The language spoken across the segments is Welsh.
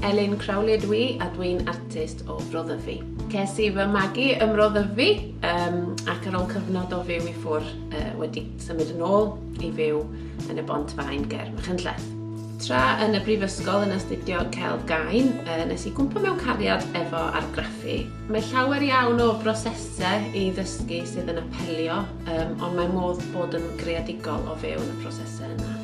Elin Crowley ydw i a dwi'n artist o Bro Ddyfi. Ces i fy magu ym Mro Ddyfi um, ac ar ôl cyfnod o fyw i ffwr uh, wedi symud yn ôl i fyw yn y Bont Fain ger Machynlleth. Tra yn y brifysgol yn astudio celf gain, uh, nes i gwmpa mewn cariad efo argraffu. Mae llawer iawn o brosesau i ddysgu sydd yn apelio, um, ond mae modd bod yn greadigol o fewn y prosesau yna.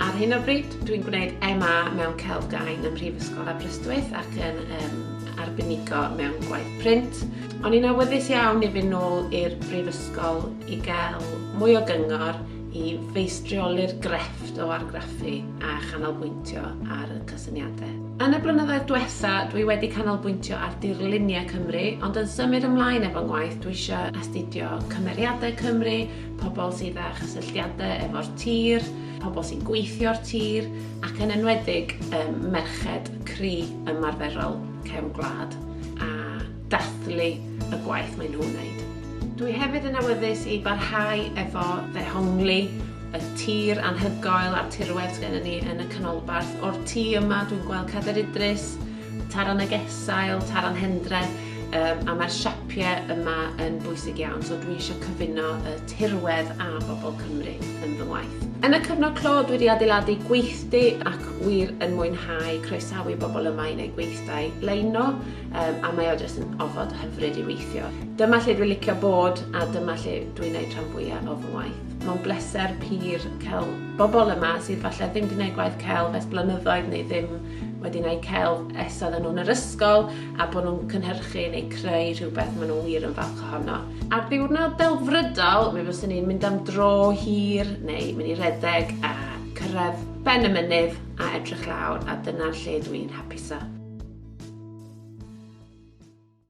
Ar hyn o bryd, dwi'n gwneud MA mewn Celf Gain ym Mhrifysgol Aberystwyth ac yn um, arbenigo mewn gwaith print. O'n i'n awyddus iawn i fynd nôl i'r Brifysgol i gael mwy o gyngor i feistrioli'r grefft o argraffu a chanolbwyntio ar y cysyniadau. Yn y blynyddoedd diwetha, dwi wedi canolbwyntio ar dirluniau Cymru, ond yn symud ymlaen efo ngwaith, dwi eisiau astudio cymeriadau Cymru, pobl sydd â chysylltiadau efo'r tir, pobl sy'n gweithio'r tir, ac yn enwedig um, merched cri ymarferol cefn gwlad a dathlu y gwaith maen nhw'n wneud. Dwi hefyd yn awyddus i barhau efo ddehongli y tir anhygoel a'r tirwedd gen ni yn y canolbarth. O'r tu yma dwi'n gweld Cader Idris, Taran y Gesail, Taran Hendre, Um, a mae'r siapiau yma yn bwysig iawn, so dwi eisiau cyfuno y tirwedd a bobl Cymru yn fy ngwaith. Yn y cyfnod clo, dwi wedi adeiladu gweithdy ac wir yn mwynhau croesawu bobl yma i wneud gweithdai leino, um, a mae o jyst yn ofod hyfryd i weithio. Dyma lle dwi'n licio bod a dyma lle dwi'n gwneud rhan fwyaf o fy ngwaith. Mae'n bleser pur cael bobl yma sydd falle ddim wedi gwneud gwaith celf ers blynyddoedd neu ddim wedi gwneud celf esodd yn nhw'n yr ysgol a bod nhw'n cynhyrchu neu creu rhywbeth maen nhw wir yn falch ohono. Ar ddiwrnod delfrydol, mi fyswn i'n mynd am dro hir neu mynd i redeg a cyrraedd ben y mynydd a edrych lawr a dyna'r lle dwi'n hapusa.